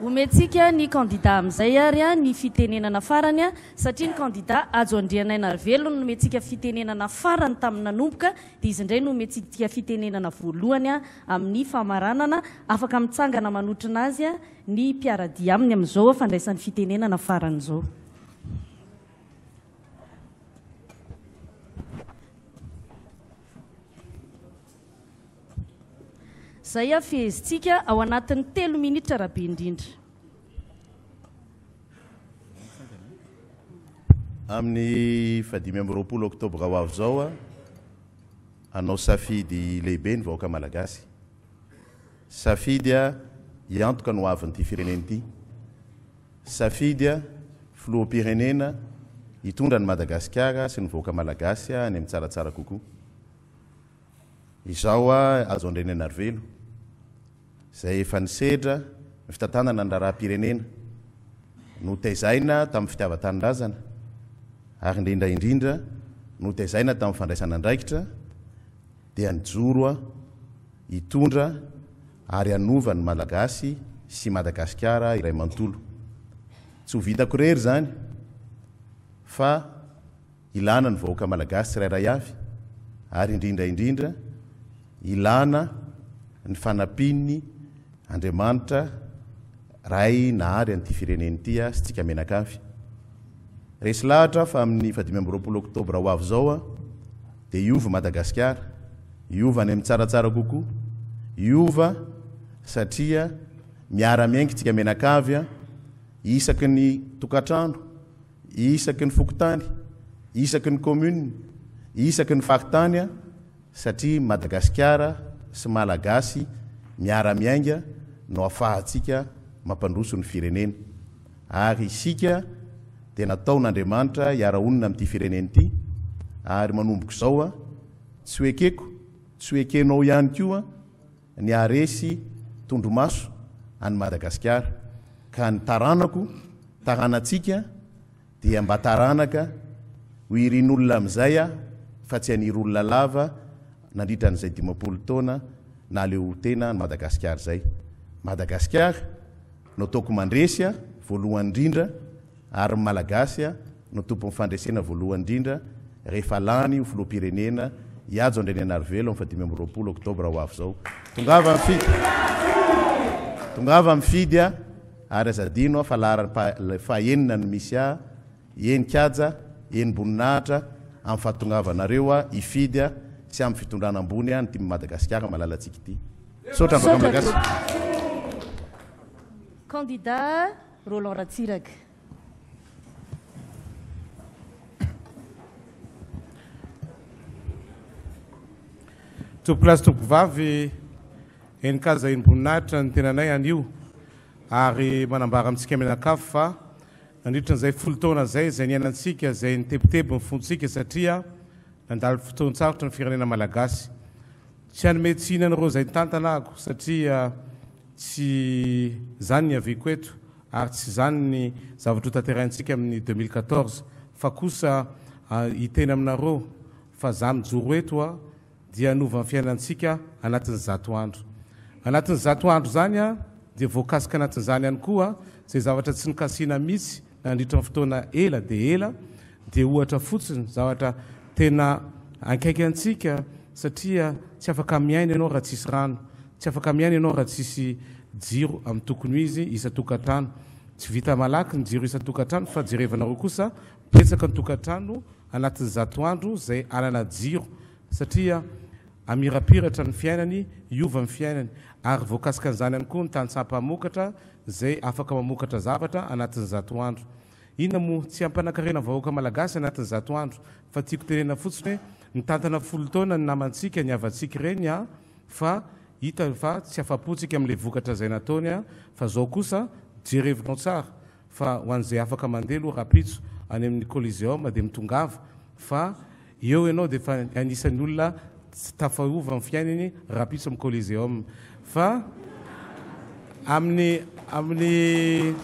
Omentsika ny kandida amin'izay ary ny fitenenana farany satria ny kandida Hajo Andrianainarivelo nomentsika fitenenana farany tamin'ny nanomboka dia izy indray no omentsika fitenenana voalohany amin'ny famaranana. Afaka mitsangana manotrona azy ny mpiara-dia aminy amin'izao fandraisany fitenenana farany izao. Zay a fehezintsika ao anatin'ny telo minitra raha be indrindra. Amin'ny fahadimy amby roapolo oktobra ho avy izao a, hanao safidy lehibe ny vahoaka malagasy. Safidy a, hiantoka ny hoavin'ity firenena ity. Safidy, Filoham-pirenena hitondra an'i Madagasikara sy ny vahoaka Malagasy any amin'ny tsaratsara kokoa. Izao azo Andrianainarivelo, izay efa nisedra ny fitantanana ny raharaham-pirenena, notaizaina tamin'ny fitiavan-tanindrazana ary indrindra indrindra notaizaina tamin'ny fandraisana andraikitra, dia nijoro hitondra ary hanova ny Malagasy sy Madagasikara iray manontolo. Tsy ho vitako irery izany fa ilana ny vahoaka Malagasy tsirairay avy ary indrindra indrindra ilana ny fanampian'ny Andriamanitra, Ray nahary an'ity firenena ity aho sy tsika menakavy. Resy lahatra aho fa amin'ny fahadimy amby roapolo oktobra ho avy izao a, dia hiova Madagasikara, hiova any amin'ny tsaratsara kokoa, hiova satria miara-miainga itsika menakavy a, isaky ny tokantrano, isaky ny fokontany, isaky ny commune, isaky ny faritany satria Madagasikara sy Malagasy miara-miainga no ahafahantsika mampandroso ny firenena ary isika dia nataon'Andriamanitra hiara-honina amin'ity firenena ity ary manomboka izao tsy ho ekeko, tsy ho ekenao ihany koa, ny haharesy tondromaso an'i Madagasikara ka ny taranako, taranantsika dia mba taranaka ho irin'olona amin'izay aho fa tsy anir'olona lava nandritra an'izay dimampolo taona nahaleotena an'i Madagasikara izay. Madagasikara no ataoko mandresy aho voalohany indrindra. Ary ny Malagasy no tompon'ny fandresena voalohany indrindra rehefa lany ho filoham-pirenena i Hajo Andrianarivelona amin'ny fahadimy amby roapolo oktobra ho avy izao. Tongava mifidy! Tongava mifidy a! Ary aza adino aho fa laharam-paha fahenina no misy ahy, eny Kaja, eny Boninahitra, amin'ny fahatongavanareo aho hifidy a! sy amin'ny fitondrana ambony aho ny tim Madagasikara malalantsika ity. Misaotra Vakamalagasy. Candidat. Roland Ratsiraka. Tompokolahy sy tompokovavy, enin-kazahin'ny voninahitra ny tenanay anio ary manambara amintsika mianakavy fa nandritra an'izay folo taona izay izay niainantsika izay nitebiteby ny fontsika satria nandalo fotoan-tsarotra ny firenena malagasy. Tsy hanome tsiny an'ireo izay nitantana aako, satria tsy izany ny aviako eto ary tsy izany ny zavatra hotanterahintsika amin'ny deux mille quatorze fa kosa hiteny aminareo fa za mijoro eto dia hanova ny fiainantsika anatin'ny zato andro. Anatin'ny zato andro izany dia voakasika anatin'izany ihany koa izay zavatra tsy nikasihina mihitsy nandritra ny fotoana ela dia ela Dia ohatra fotsiny, zavatra tena ankaiky antsika satria tsy afaka miaina ianao raha tsisy rano, tsy afaka miaina ianao raha tsisy jiro amin'ny tokony ho izy isan-tokantrano. Tsy vita malaky ny jiro isan-tokantrano fa jerevanareo kosa betsaka ny tokantrano anatin'ny zato andro izay hanana jiro satria hamirapiratra ny fiainany, hiova ny fiainany. Ary voakasikan'izany ihany koa ny tantsaha mpamokatra izay afaka mamokatra zavatra anatin'ny zato andro. Inona moa? Tsy hampanankarena ny vahoaka malagasy anatin'ny zato andro fa tiako tenenina fotsiny hoe mitantana folo taona ny namantsika, ny havantsika ireny an! fa hita fa tsy afapontsika amin'ilay vokatra izay nataony an! fa izao kosa jerevinao tsara fa ho an'izay afaka mandeha aloha rapitso any amin'ny coliseum dia mitongava fa Eo ianao dia efa anisan'ny olona tsy tafahovo amin'ny fiainany rahampitso amin'ny Coliseum. Fa amin'ny amin'ny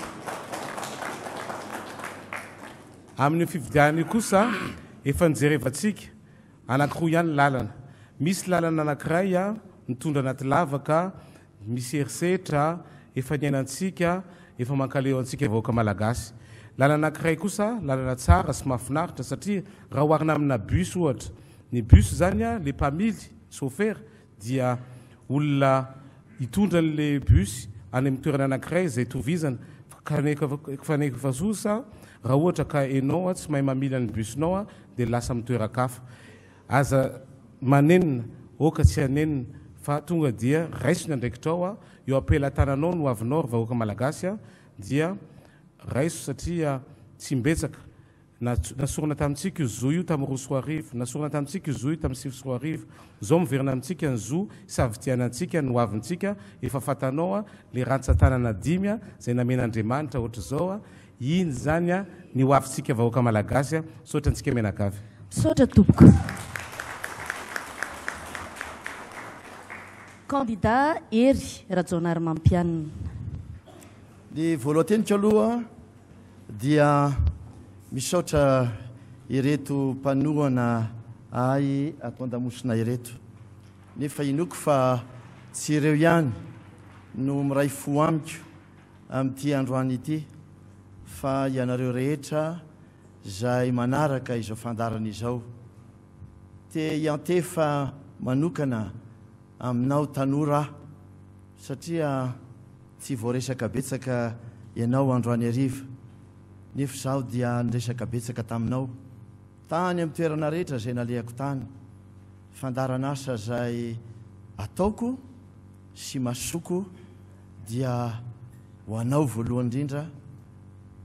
amin'io fifidianana io kosa efa nijerevantsika anankiroa ihany ny lalana. Misy lalana anankiray mitondra anaty lavaka. Misy herisetra efa niainantsika, efa mankaleo antsika vahoaka Malagasy. Lalana anankiray kosa, lalana tsara sy mahafinaritra satria raha oharina amina bus ohatra, ny bus zany a, le mpamily, chauffeur, dia olona hitondra an'le bus any amin'ny toerana anankiray izay itovizana, kanefa zosa raha ohatra ka enao tsy mahay mamily an'ny bus-nao dia lasa amin'ny toeran-kafa. Aza manenina, oka tsy hanenina, fa tonga dia raiso ny andraikitrao a, io ampelatananao no avinao ry vahoaka malagasy a, dia raiso satria tsy imbetsaka, nasorina tamintsika io zo io tamin'ny roa sy roa arivo, nasorina tamintsika io zo io tamin'ny sivy sy roa arivo, zao miverina amintsika ny zo hisafidianantsika ny hoavintsika, efa fantanao a, le rantsan-tanana dimy a, zay namen'Andriamanitra ohatr'izao a, Iny izany a ny ho avintsika vahoaka malagasy a! Misaotra antsika mianakavy. Misaotra tompoko. Candidat Hery Rajaonarimampianina. Ny voalohan-teniko aloha dia misaotra ireto mpanohana ahy ato an-damosina ireto, nefa inoako fa tsy ireo ihany no miray fo amiko, amin'ity androany ity fa ianareo rehetra izay manaraka izao fandaharana izao. Te hiantefa manokana aminao tanora aho satria tsy voaresaka betsaka ianao androany hariva nefa izaho dia niresaka betsaka taminao Tany amin'ny toerana rehetra izay nalehako tany, fandaharan'asa izay ataoko sy masoko dia ho anao voalohany indrindra,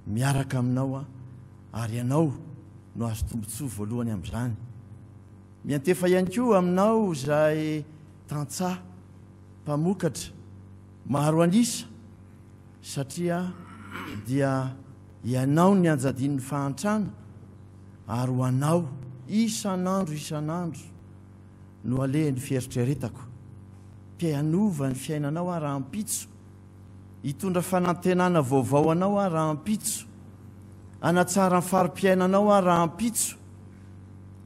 miaraka aminao ary ianao no azo tombontsoa voalohany amin'izany. Miantefa ihany koa aminao izay tantsaha mpamokatra maro an'isa satria dia Ianao ny anjadian'ny fahantrana, ary ho Anao, isan'andro isan'andro, no alehan'ny fieritreretako. Te hanova ny fiainanao aho rahampitso, hitondra fanantenana vaovao anao aho rahampitso, hanatsara ny fari-piainanao aho rahampitso.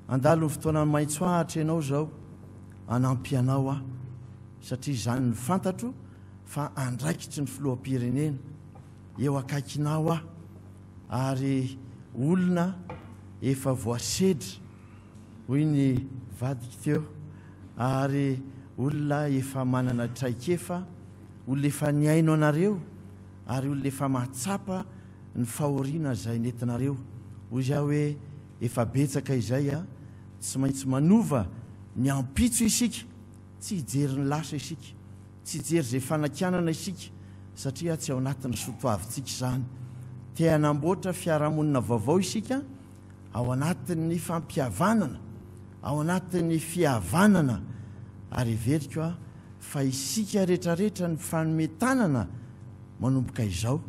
Handalo ny fotoana maitso ahitra Ianao izao, hanampy Anao aho, satria izany no fantatro fa andraikitry ny Filoham-pirenena. eo akaikinao aho ary olona efa voasedra hoy ny vadiko teo ary olona efa manana traikefa, olona efa nihaino anareo ary olona efa mahatsapa ny fahoriana izay nentinareo. Hoy aho hoe efa betsaka izay a, tsy maintsy manova ny ampitso isika. Tsy hijery ny lasa isika, tsy hijery izay fanakianana isika satria tsy ao anatin'ny soa toavintsika izany. Te hanamboatra fiarahamonina vaovao isika ao anatin'ny fampihavanana, ao anatin'ny fihavanana ary heveriko aho fa isika rehetrarehetra ny mifanome tanana manomboka izao,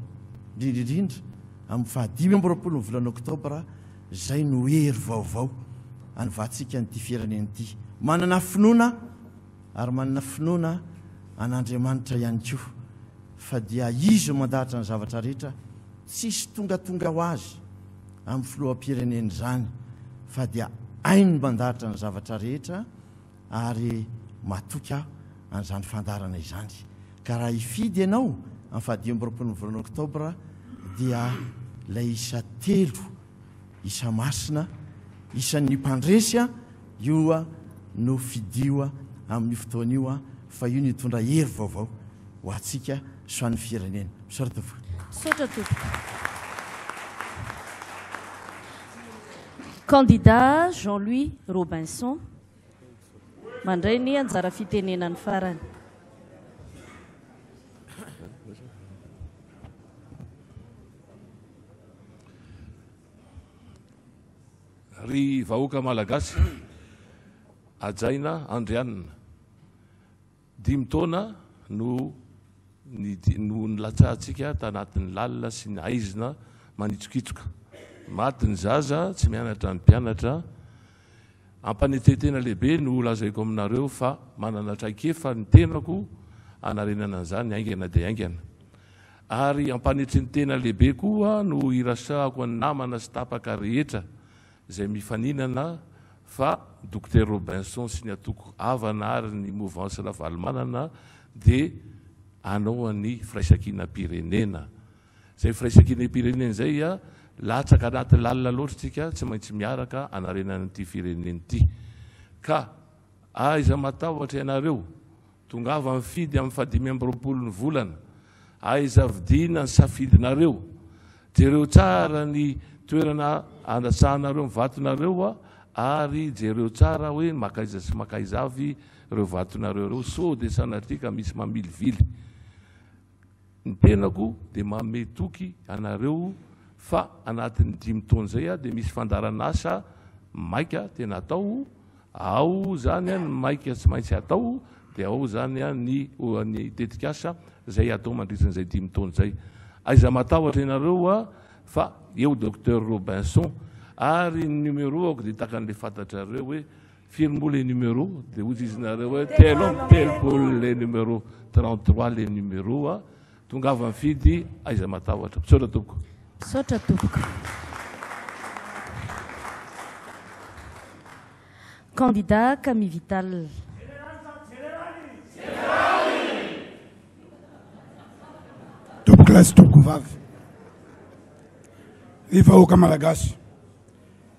indrindra indrindra amin'ny fahadimy amby roapolo ny volana oktobra, Izay no hery vaovao hanovatsika an'ity firenena ity. Manana finoana ary manana finoana an'Andriamanitra ihany koa fa dia Izy no mandahatra ny zavatra rehetra, tsisy tongatonga ho azy amin'ny filoham-pirenena izany fa dia hainy ny mandahatra ny zavatra rehetra, ary matoky aho an'izany fandaharana izany ka raha hifidy ianao amin'ny fahadimy amby roapolo ny volana oktobra dia ilay isa telo isa masina isan'ny mpandresy a io a no fidio a amin'ny fotoana io a fa io ny hitondra hery vaovao ho antsika sy ho an'ny firenena misaotra tompoko misaotra tompoko Candidat Jean Louis Robinson Mandray ny anjara fitenenany farany. Ry vahoaka Malagasy, hajaina Andrianina. Dimy taona no no nilatsahantsika tanatin'ny lalina sy ny haizina manitsokitsoka. Maty ny zaza, tsy mianatra ny mpianatra. Ampanetren-tena lehibe no lazaiko aminareo fa manana traikefa ny tenako hanarenana an'izany haingana dia haingana. Ary ampanetren-tena lehibe koa no irasahako ny namana sy tapaka rehetra izay mifaninana fa Dokotera Robinson sy ny antoko havana ary ny Mouvance Ravalomanana dia hanao an'ny firaisankinam-pirenena. Izay firaisankinam-pirenena izay latsaka anaty lalina loatra isika tsy maintsy miaraka hanarenana ity firenena ity. Ka aiza matahotra ianareo Tongava mifidy amin'ny fahadimy amby roapolo ny volana. Aiza vidiana ny safidinareo? Jereo tsara ny toerana andrasanareo ny vatonareo ary jereo tsara hoe makaiza sy makaiza avy ireo vatonareo ireo, sao dia sanatria ka misy mamilivily. Ny tenako dia manome toky anareo fa anatin'ny dimy taona izay aho dia misy fandaharan'asa maika tena atao, ao izany ny maika tsy maintsy atao dia ao izany ny ny tetikasa izay atao mandritran'izay dimy taona izay. Aiza matahotra ianareo aho fa eo Docteur Robinson ary ny numéro-ako dia takan'ilay fantatrareo hoe Firy moa le numero? Dia hoy izy nareo hoe telo amby telopolo le numero, 33 le numero a. Tongava mifidy aiza matahotra. Misaotra tompoko. Misaotra tompoko. Candidat Kami Vital. Tompoko lahy sy tompoko vavy, ny vahoaka malagasy.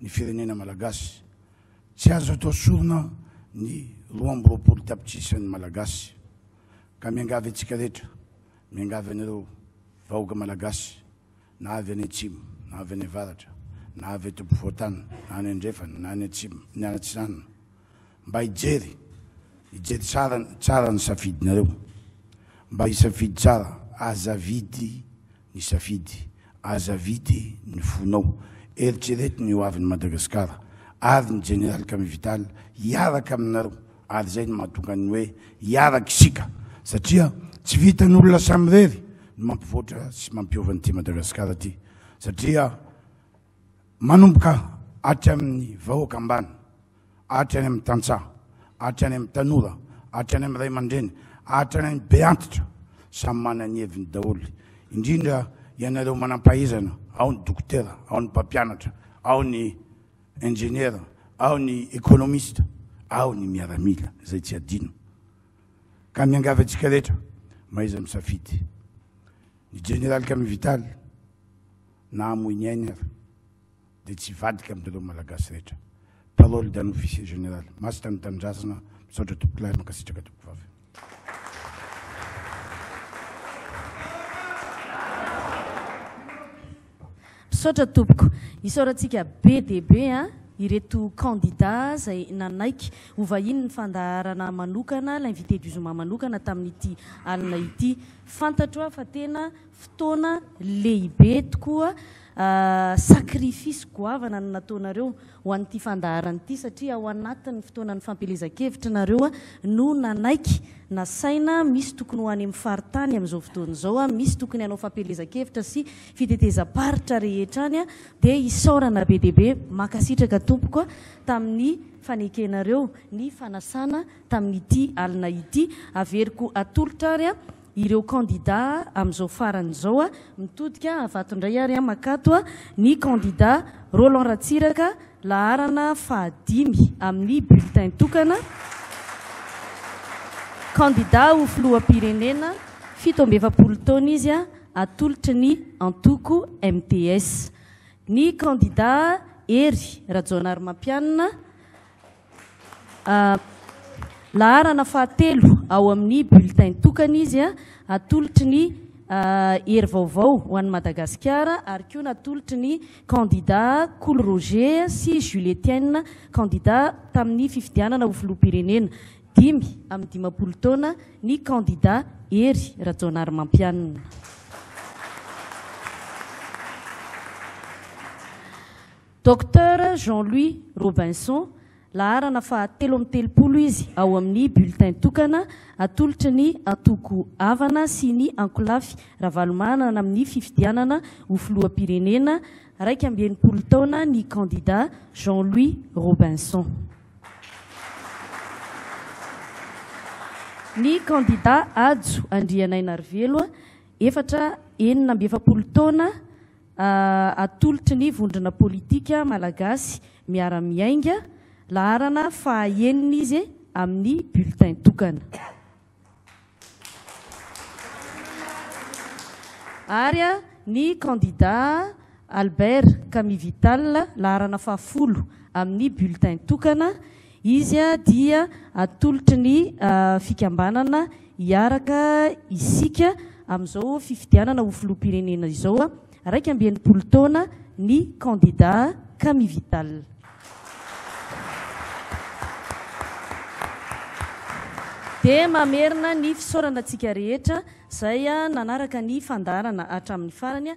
ny firenena malagasy. Tsy azo atao sorona ny roa amby roapolo tapitrisan'ny malagasy. Ka miangavy antsika rehetra, miangavy anareo vahoaka malagasy na avy any atsimo na avy any avaratra na avy eto ampovoan-tany na any andrefana na any atsimo ny any atsinanana mba hijery hijery tsara tsara ny safidinareo mba hisafidy tsara aza vidy ny safidy, aza vity ny fonao, eritrereto ny ho avin'i Madagasikara ary ny Jeneraly Camille Vital hiaraka aminareo ary izay no mahatonga ny hoe hiaraka isika satria tsy vitan'olona samirery ny mampivoatra sy mampiova an'ity Madagasikara ity satria Manomboka hatry amin'ny vahoaka ambany, hatrany amin'ny tantsaha, hatrany amin'ny tanora, hatrany amin'ny ray aman-dreny, hatrany amin'ny be antitra, samy manana ny heviny daholo. Indrindra ianareo manam-pahaizana, ao ny dokotera, ao ny mpampianatra, ao ny injeniera, ao ny ekonomista, ao ny miaramila, izay tsy adino. Ka miangavy antsika rehetra, mahaiza misafidy. Ny Jeneraly Camille Vital, na hamoy ny ainy ary dia tsy hivadika amin'ireo Malagasy rehetra. Parole d'un officier général. Masina ny Tanindrazana. Misaotra Tompokolahy. Mankasitraka Tompokovavy. Misaotra Tompoko. Isaorantsika be dia be ireto candidats izay nanaiky hovahinin'ny fandaharana manokana, l'invité du zoma manokana tamin'ity alina ity. Fantatro aho fa tena. fotoana lehibe tokoa sacrifice goavana no nataonareo ho an'ity fandaharana ity satria ao anatin'ny fotoanan'ny fampielezan-kevitry nareo no nanaiky nasaina misy tokony ho any amin'ny faritany amin'izao fotoana izao misy tokony hanao fampielezan-kevitra sy fitetezam-paritra rehetra any dia isaorana be dia be mankasitraka tompoko tamin'ny fanekenareo ny fanasana tamin'ity alina ity averiko atolotra ary ireo kandida amin'izao farany izao a, mitodika avato indray ary an makato a, ny kandida Roland Ratsiraka laharana fahadimy amin'ny bulletin tokana, kandida ho filoham-pirenena, fito amby efapolo taona izy a, atolotry ny antoko MTS. Ny kandida Hery Rajaonarimampianina, Laharana fahatelo ao amin'ny bulletin tokana izy, atolotry ny Hery vaovao ho an'i Madagasikara ary koa natolotry ny kandidà Kolo Roger sy Jules Etienne, kandidà tamin'ny fifidianana ho filoham-pirenena, dimy amby dimampolo taona, ny kandidà Hery Rajaonarimampianina. Docteur Jean Louis Robinson, laharana faha telo amby telopolo izy ao amin'ny bulletin tokana atolotry ny antoko Avana sy ny ankolafy Ravalomanana amin'ny fifidianana ho filoham-pirenena, iraika amby enimpolo taona ny kandida Jean Louis Robinson. Ny kandida Hajo Andrianainarivelo, efatra enina amby efapolo taona, atolotry ny vondrona politika malagasy miara-miainga, laharana faha enina izy amin'ny bulletin tokana. Ary ny kandida Albert Kamivital, laharana faha folo amin'ny bulletin tokana, Izy dia atolotry ny fikambanana Hiaraka isika amin'izao fifidianana ho filoham-pirenena izao, iraika amby enimpolo taona, ny kandidà Camille Vital. Dia mamerina ny fisaorana antsika rehetra izay nanaraka ny fandaharana hatramin'ny farany.